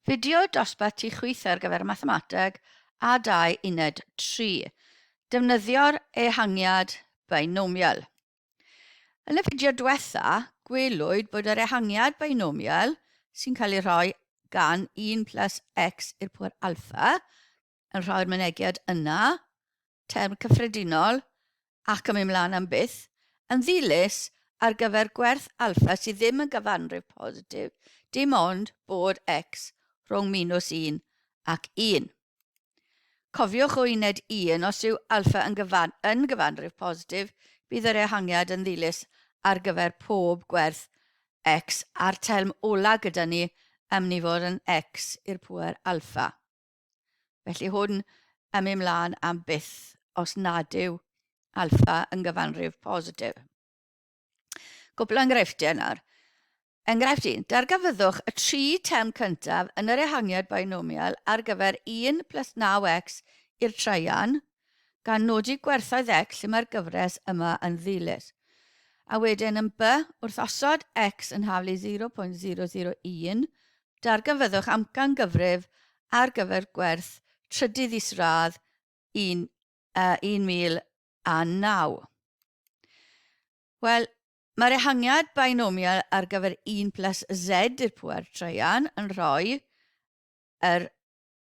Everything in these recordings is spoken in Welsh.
Fideo dosbarth tu chwith ar gyfer Mathemateg a 2 Uned 3. Defnyddio'r ehangiad beinomial. Yn y fideo diwetha, gwelwyd bod yr ehangiad beinomial, sy'n cael ei rhoi gan 1 plus x i'r pŵer alpha, yn rhoi'r mynegiad yna, term cyffredinol, ac yn mynd mlaen am byth, yn ddilys ar gyfer gwerth alffa sydd ddim yn gyfanrif positif, dim ond bod x rhwng minws 1 ac 1. Cofiwch o uned 1, os yw alffa yn, gyfan, yn gyfanrif positif, bydd yr ehangiad yn ddilys ar gyfer pob gwerth x a'r term ola gyda ni am ni fod yn x i'r pŵer alffa. Felly hwn yn mynd mlaen am byth os nad yw alfa yn gyfanrif positif. Cwpl o enghreifftiau nawr. Enghraifft 1. Dargafyddwch y tri term cyntaf yn yr ehangiad binomial ar gyfer 1 plus 9x i'r traean, gan nodi gwerthoedd X lle mae'r gyfres yma yn ddilys, a wedyn yn by, wrth osod X yn haflu 0.001, darganfyddwch amcangyfrif ar gyfer gwerth trydydd isradd 1009. Wel, mae'r ehangiad binomial ar gyfer 1 plus z i'r pŵer traean yn rhoi yr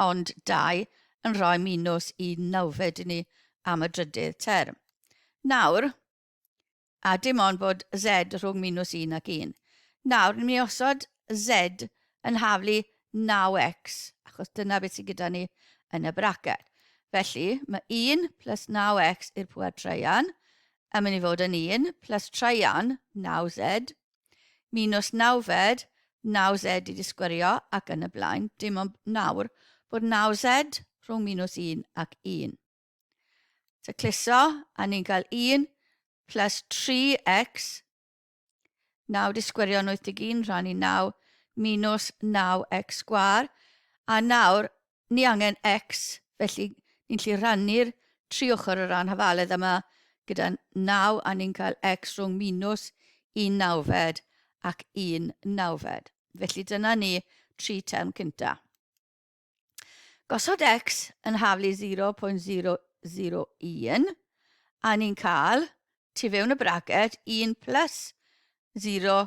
ond dau yn rhoi minws i nawfed i ni am y drydydd term. Nawr, a dim ond bod Z rhwng minws 1 ac 1. Nawr, ni'n mynd i osod Z yn haflu 9x, achos dyna beth sydd gyda ni yn y bracet. Felly, mae 1 plus 9x i'r pŵer traean yn mynd i fod yn 1 plus traean 9z Mi nos nawfed, naw zed i disgwyrio ac yn y blaen, dim ond nawr bod naw zed rhwng minws un ac un. Tacluso, a ni'n cael un plus 3x, naw disgwyrio yn 81 rhan i naw minws naw x sgwar, a nawr ni angen X, felly ni'n gallu rhannu'r tri ochr o ran hafaledd yma gyda 9 a ni'n cael X rhwng minws un nawfed ac un nawfed. Felly dyna ni tri term cynta. Gosod X yn haflu 0.001 a ni'n cael, tu fewn y braget, 1 plus 0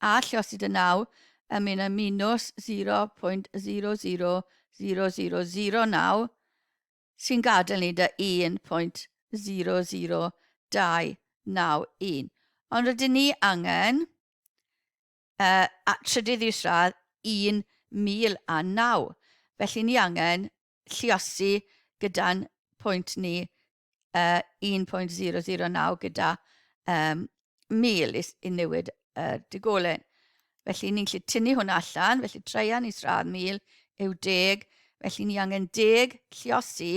a llosyd y naw yn mynd â minws 0.000009 sy'n gadael ni 'da 1.00291. Ond rydyn ni angen y trydydd isradd 1009, felly ni angen lliosi gyda'n pwynt ni uh, 1.009 gyda um, 1000 i, i newid uh, digolen. Felly ni'n gallu tynnu hwnna allan, felly treian i sradd 1000 yw deg, felly ni angen deg lliosi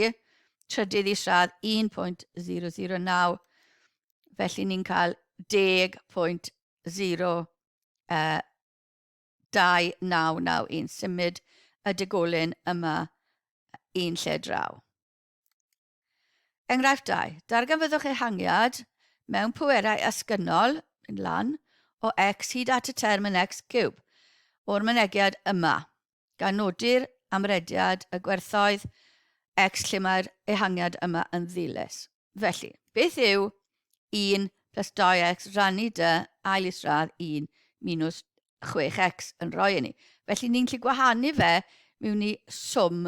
trydydd i sradd 1.009, felly ni'n cael 10.02991 yn symud y digolyn yma un lle draw. Enghraifft 2. Darganfyddwch ehangiad mewn pwerau asgynnol, yn lan, o x hyd at y term yn x cube, o'r mynegiad yma, gan nodi'r amrediad y gwerthoedd x lle mae'r ehangiad yma yn ddilys. Felly, beth yw 1 plus 2x rannu dy ail isradd 1 minus 6x yn rhoi i ni? Felly, ni'n gallu gwahanu fe mewn i swm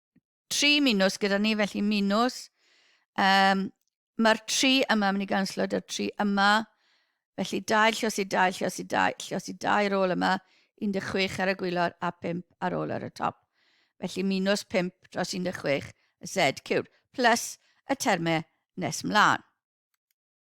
tri minws gyda ni, felly minws. Um, Mae'r tri yma yn mynd i ganslo da'r tri yma. Felly dau llos i dau llos i dau llos i dau ar ôl yma, 16 ar y gwylod a 5 ar ôl ar y top. Felly minws 5 dros 16 y sed cywr, plus y termau nes mlaen.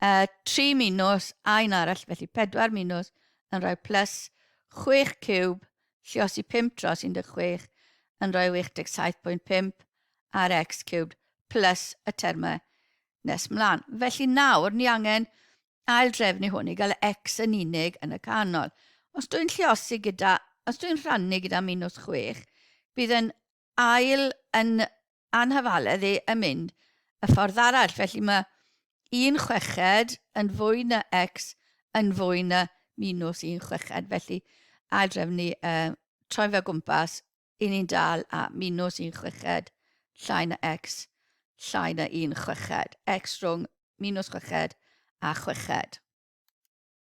Uh, tri minws a un arall, felly pedwar minws yn rhoi plus 6 cwb, lliosi 5 dros 16 yn rhoi 87.5 ar x cwb plus y termau nes mlaen. Felly nawr ni angen ail drefnu hwn i gael x yn unig yn y canol. Os dwi'n lliosi gyda, os dwi'n rhannu gyda minws 6, bydd yn ail yn anghyfaledd i yn mynd y ffordd arall. Felly mae un chweched yn fwy na x yn fwy na minus un chweched. Felly aildrefn ni uh, troi fe gwmpas, i ni'n dal a minus un chweched llai na x llai na un chweched. x rhwng minus chweched a chweched.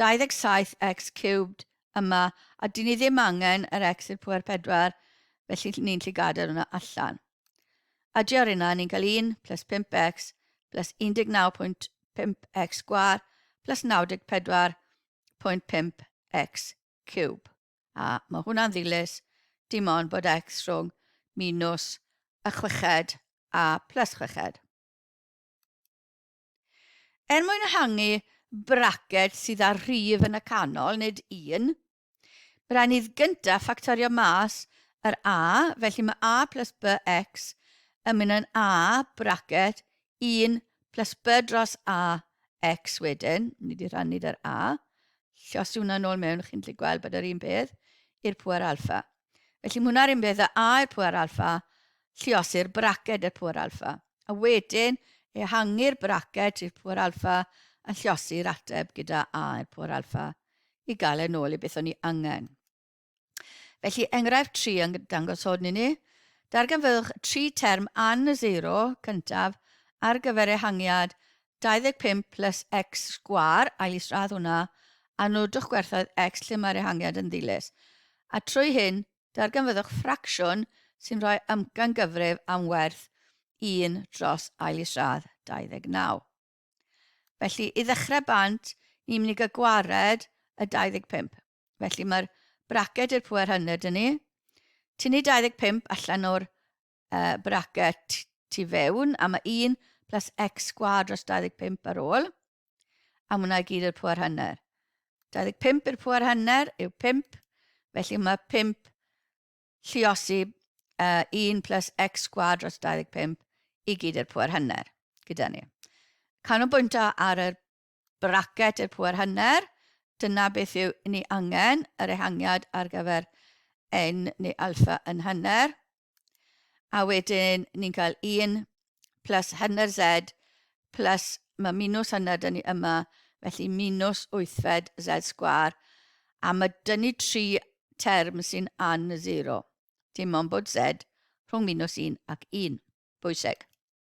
27 x cubed yma a dyn ni ddim angen yr x i'r pwer 4 felly ni'n lli gadael hwnna allan. Adio ar hynna ni'n cael 1 plus 5x plus 19.5x sgwar plus 94.5x cube. A mae hwnna'n ddilys dim ond bod x rhwng minus y chweched a plus chweched. Er mwyn ehangu braced sydd â'r rhif yn y canol, nid un, rhaid ni gyntaf ffactorio mas yr a, felly mae a plus bx yn mynd yn a braced 1 plus b dros a x wedyn, ni wedi rhannu dy'r a, llosgi hwnna nôl mewn, chi'n gallu gweld bod yr un peth, i'r pwer alfa. Felly mae hwnna'r un peth a A i'r pŵer alfa, lliosir braced i'r pŵer alfa. A wedyn, ehangu'r braced i'r pŵer alfa yn lliosi'r ateb gyda A i'r pŵer alfa i gael e'n ôl i beth o'n ni angen. Felly, enghraifft 3 yn dangos hwn i ni. Darganfyddwch tri term an y seiro cyntaf ar gyfer ehangiad 25 plus X sgwâr, ail isradd hwnna, a nodwch gwerthoedd X lle mae'r ehangiad yn ddilys. A trwy hyn, darganfyddwch ffracsiwn sy'n rhoi amcangyfrif am werth 1 dros ail isradd 29. Felly, i ddechrau bant, ni'n mynd i gael gwared y 25. Felly, mae'r braced i'r pŵer hynny, ydyn ni. Tynnu 25 allan o'r uh, bracket tu fewn, a mae 1 plus x sgwad dros 25 ar ôl, a hwnna i gyd i'r pwer hanner. 25 i'r pwer hanner yw 5, felly mae 5 lliosi uh, 1 plus x sgwad dros 25 i gyd i'r pwer hanner gyda ni. Canolbwyntio ar y Braced i'r pŵer hanner, dyna beth yw ni angen, yr ehangiad ar gyfer N neu alpha yn hanner. A wedyn ni'n cael 1 plus hanner Z plus, mae minws hanner dyn ni yma, felly minws wythfed Z sgwar. A mae dyn ni tri term sy'n an zero, dim ond bod Z rhwng minws 1 ac 1. Bwysig.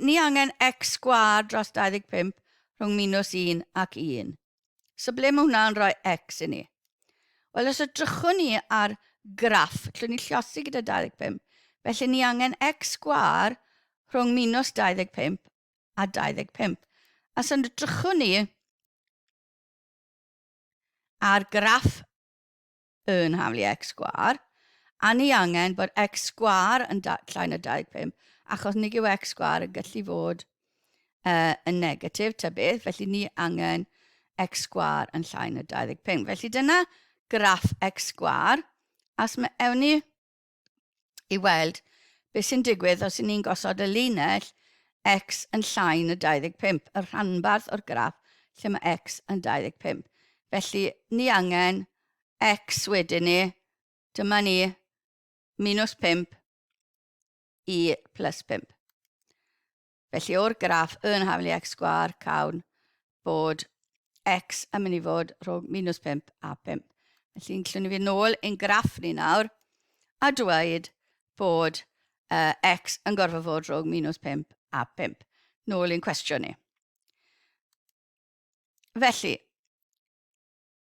Ni angen X sgwâr dros 25 rhwng minws 1 ac 1. So ble mae hwnna yn rhoi X i ni? Wel, os edrychwn ni ar graff, llwn ni llosi gyda 25, felly ni angen X sgwâr rhwng minws 25 a 25. A os edrychwn ni ar graff yn haflu x sgwâr, a ni angen bod x sgwâr yn llai na 25, achos nig yw x sgwâr yn gallu fod uh, yn negatif ta beth, felly ni angen x sgwâr yn llai na 25. Felly dyna graff x sgwâr, a os mae ewn ni i weld beth sy'n digwydd os 'yn ni'n gosod y linell x yn llai na 25, y rhanbarth o'r graff lle mae x yn 25. Felly, ni angen x wedyn ni, dyma ni, minus 5 i plus 5. Felly o'r graff yn haflu x sgwar cawn bod x yn mynd i fod rhwng minus 5 a 5. Felly'n llwn i fi nôl ein graff ni nawr a dweud bod uh, x yn gorfod fod rhwng minus 5 a 5. Nôl i'n cwestiwn ni. Felly,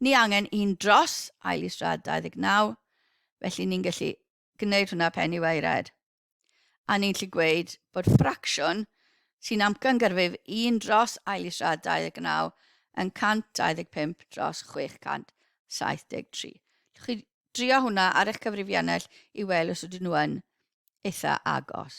Ni angen un dros ail i Strad 29, felly ni'n gallu gwneud hwnna pen i wau red. A ni'n gallu gweud bod ffracsiwn sy'n amcangyfrif un dros ail i Strad 29 yn 125 dros 673. Llwch chi drio hwnna ar eich cyfrifiannell i weld os ydyn nhw yn eitha agos.